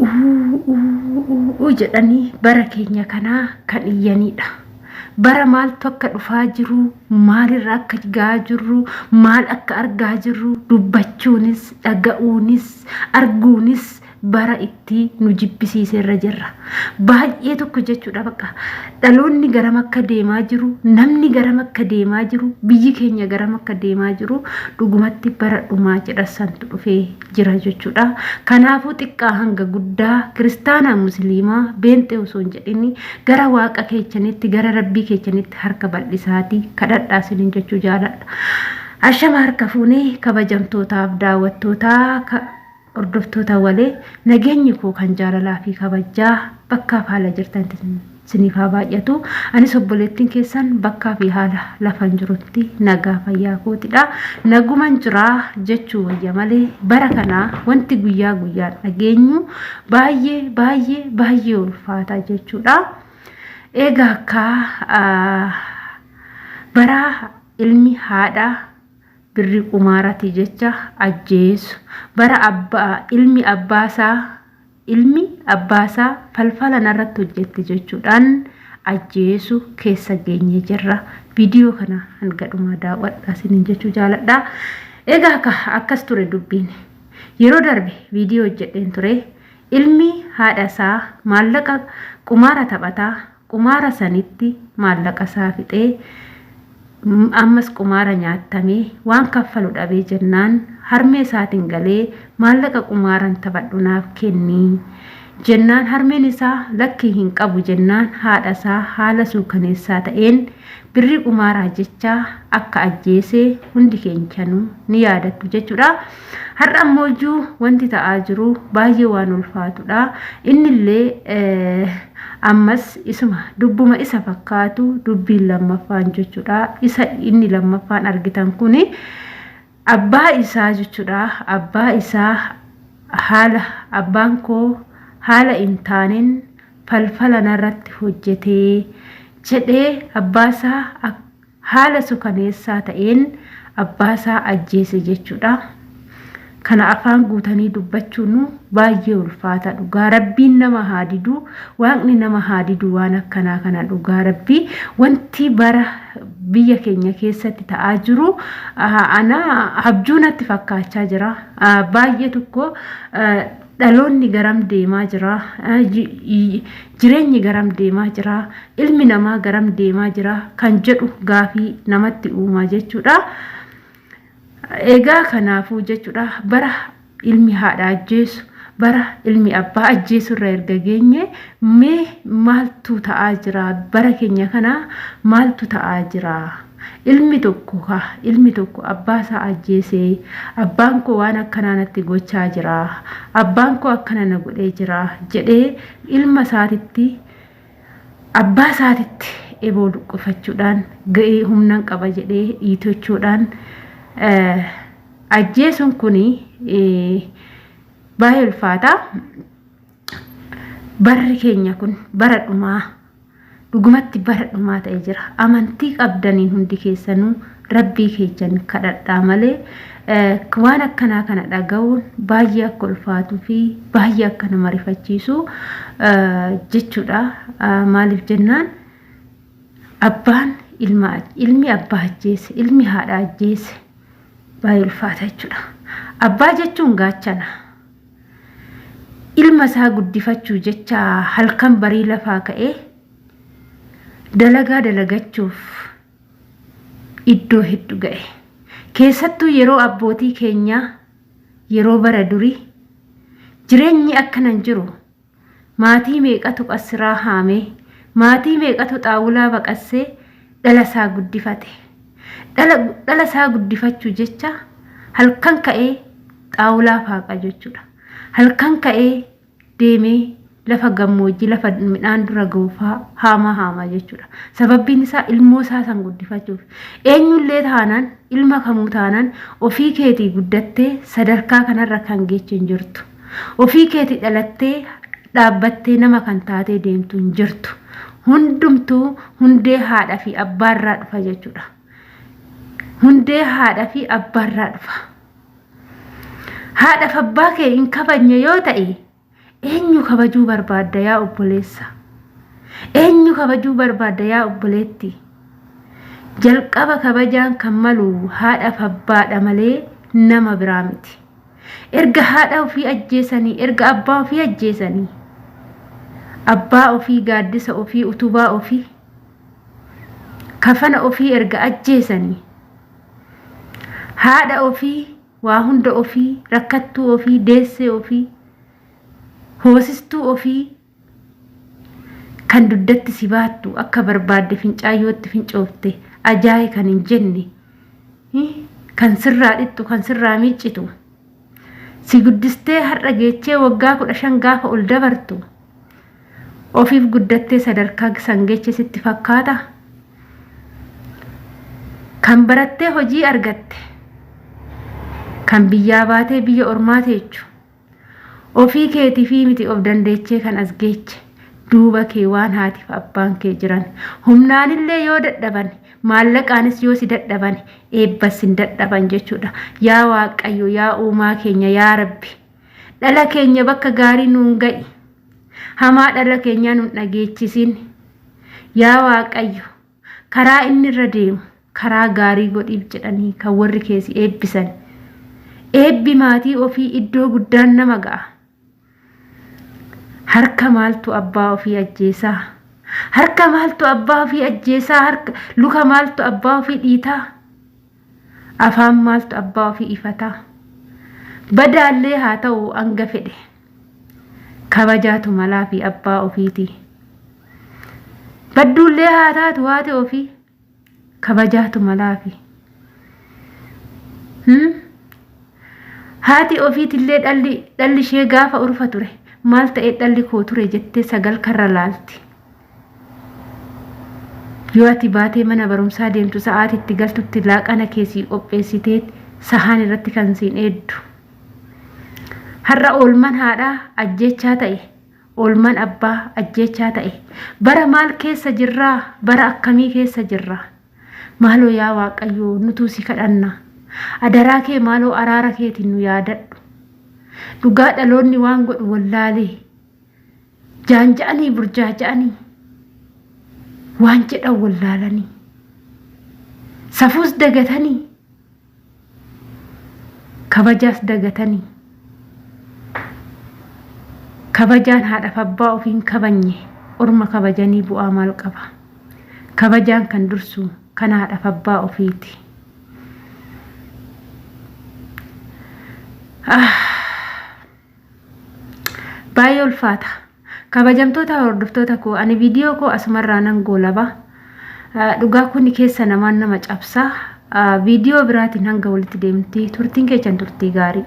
Uuuuuuu jedhanii bara keenya kanaa kan iyyanidha. Bara maaltu akka dhufaa jiru, maalirra akka gahaa jirru, maal akka argaa jirru dubbachuunis, dhaga'uunis, arguunis bara itti nu jibbisiiserra jirra. baay'ee tokko jechuudha bakka dhaloonni garam akka deemaa jiru namni garam akka deemaa jiru biyyi keenya garam akka deemaa jiru dhugumatti bara dhumaa jedha santu dhufee jira jechuudha kanaafuu xiqqaa hanga guddaa kiristaanaa musliimaa beenxee osoo hin jedhin gara waaqa keechanitti gara rabbii keechanitti harka bal'isaatii kadhadhaa isiniin jechuu jaaladha ashama harka fuunee kabajamtootaaf daawwattootaa Hordoftoota wale, nageenyi koo kan jaalalaa fi kabajjaa bakkaa fi haala jirtanitti siniif haa baay'atu. Anis obboleettin keessan bakkaa fi haala lafan jirutti nagaa fayyaa kootidha. Naguman jira jechuu wayya malee bara kana wanti guyyaa guyyaan dhageenyu baay'ee baay'ee baay'ee ulfaata jechuudha. Egaa akka baraa ilmi haadha birri qumaarati jecha ajjeesu bara abba ilmi abbaa isaa ilmi abbaa isaa falfala narratti hojjetti jechuudhaan ajjeesu keessa geenyee jirra viidiyoo kana hanga dhumaa daawwadha isiniin jechuu jaaladha egaa akka akkas ture dubbiin yeroo darbe viidiyoo hojjedheen ture ilmi haadha isaa maallaqa qumaara taphataa Qumaara sanitti maallaqa isaa fixee ammas qumaara nyaattamee waan kaffalu dhabee jennaan harmee isaatiin galee maallaqa qumaaran taphadhu naaf kenni jennaan harmeen isaa lakkii hin qabu jennaan haadha isaa haala suukaneessaa ta'een Birrii qumaaraa jecha akka ajjeese hundi keenyanu ni yaadattu jechuudha. Har'a ammoo iyyuu wanti ta'aa jiru baay'ee waan ulfaatudha. Innillee ammas isuma dubbuma isa fakkaatu dubbiin lammaffaan jechuudha. Isa inni lammaffaan argitan kuni Abbaa isaa jechuudha. Abbaa isaa haala abbaan koo haala hin taaneen falfala narratti hojjete jedhee abbaasaa haala sukaneessaa ta'een abbaasaa ajjeese jechuudha. Kana afaan guutanii dubbachuun baay'ee ulfaata dhugaa rabbiin nama haa didu waaqni nama haa didu waan akkanaa kana dhugaa rabbii wanti bara biyya keenya keessatti ta'aa jiru ana abjuu natti fakkaachaa jira. Baay'ee tokko dhaloonni garam deemaa jira. Jireenyi garam deemaa jira. Ilmi namaa garam deemaa jira kan jedhu gaafii namatti uumaa jechuudha. Egaa kanaafuu jechuudha bara ilmi haadha ajjeesu bara ilmi abbaa ajjeesu irra erga geenye mee maaltu ta'aa jira bara keenya kana maaltu ta'aa jira ilmi tokko ka ilmi tokko abbaa isaa ajjeese abbaan koo waan akkanaa natti gochaa jira abbaan koo akkana na godhee jira jedhee ilma isaatitti abbaa isaatitti eboo luqqifachuudhaan ga'ee humnan qaba jedhee dhiitochuudhaan ajjeesuun kun baay'ee ulfaataa barri keenya kun bara dhumaa dhugumatti bara dhumaa ta'e jira amantii qabdaniin hundi keessanuu Rabbii keessan kadhadhaa malee waan akkanaa kana dhaga'uun baay'ee akka ulfaatuu fi baay'ee akka nama rifachiisu jechuudha. Maaliif jennaan abbaan ilma ilmi abbaa ajjeese ilmi haadha ajjeese baay'ee ulfaata jechuudha. Abbaa jechuun gaachana. Ilma isaa guddifachuu jecha halkan barii lafaa ka'ee dalagaa dalagachuuf iddoo heddu ga'e. Keessattuu yeroo abbootii keenyaa yeroo bara durii jireenyi akkana hin jiru. Maatii meeqatu qassiraa haamee, maatii meeqatu xaawulaa baqassee dhala isaa guddifate. Dhala dhala isaa guddifachuu jecha halkan ka'ee xaawulaa faaqa jechuudha. Halkan ka'ee deemee lafa gammoojjii lafa midhaan dura ga'uufaa haamaa haamaa jechuudha. Sababbiin isaa ilmoo isaa san guddifachuuf. Eenyullee taanaan ilma kamuu taanaan ofii keetii guddattee sadarkaa kanarra kan geechu hin jirtu. Ofii keetii dhalattee dhaabbattee nama kan taatee deemtu hin jirtu. Hundumtuu hundee haadha fi abbaarraa dhufa jechuudha. Hundee haadha fi abbaarraa dhufa. haadha fi abbaa kee hin kabajne yoo ta'e eenyu kabajuu barbaadda yaa obboleessa eenyu kabajuu barbaadda yaa obboleetti jalqaba kabajaan kan malu haadha fi abbaadha malee nama biraa miti erga haadha ofii ajjeesanii erga abbaa ofii ajjeesanii abbaa ofii gaaddisa ofii utubaa ofii kafana ofii erga ajjeesanii haadha ofii waa hunda ofii rakkattuu ofii deessee ofii hoosistuu ofii kan dugdatti si baattu akka barbaadde fincaayyootti fincoofte ajaa'e kan hin jenne kan sirraa dhixxu kan sirraa miiccitu. si guddistee har'a geechee waggaa kudha shan gaafa ol dabartu ofiif guddattee sadarkaa san geeche sitti fakkaata kan barattee hojii argatte kan biyyaa baatee biyya ormaa teechu ofii keetifii miti of dandeechee kan as geeche duuba kee waan haatiif abbaan kee jiran humnaanillee yoo dadhaban maallaqaanis yoo si dadhaban eebbas sin dadhaban jechuudha. Yaa Waaqayyo, yaa uumaa keenya, yaa Rabbi. Dhala keenya bakka gaarii nuun ga'i. Hamaa dhala keenyaa nuun dhageechisin. Yaa Waaqayyo, karaa inni irra deemu karaa gaarii godhiif jedhanii kan warri keessi eebbisan. Eebbi maatii ofii iddoo guddaan nama ga'a. harka maaltu abbaa ofii ajjeesaa harka maaltu abbaa ofii ajjeesaa harka luka maaltu abbaa ofii dhiitaa afaan maaltu abbaa ofii ifataa badaallee haa ta'u hanga fedhe kabajaatu malaa fi abbaa ofiiti badduullee haa taatu haati ofii kabajaatu malaafi. Hmm? Haati ofiitillee dhalli dhalli ishee gaafa ulfa ture maal ta'ee dhalli koo ture jettee sagal karra laalti. Yoo ati baatee mana barumsaa deemtu sa'aati itti galtutti laaqana kee sii qopheessitee sahaan irratti kan siin eeddu. Har'a oolman haadhaa ajjeechaa ta'e Oolman abbaa ajjeechaa ta'e. Bara maal keessa jirraa? Bara akkamii keessa jirra? Maaloo yaa Waaqayyoo nutuu si kadhanna. Adaraa kee maaloo araara keetiin nu yaadadhu. Dhugaa dhaloonni waan godhu wallaalee. Jaanja'anii burjaaja'anii. Waan jedhan wallaalanii. Safuus dagatanii. Kabajaas dagatani. Kabajaan haadhaf abbaa ofii hin kabanye orma kabajanii bu'aa maal qaba? Kabajaan kan dursu kan haadhaf abbaa ofiiti. Ah! Baay'ee ulfaata. Kabajamtoota hordoftoota koo ani viidiyoo koo asumarraa nan goolaba. Dhugaa kun keessa namaan nama cabsa. Viidiyoo biraatiin hanga walitti deemti. Turtiin keessan turtii gaarii.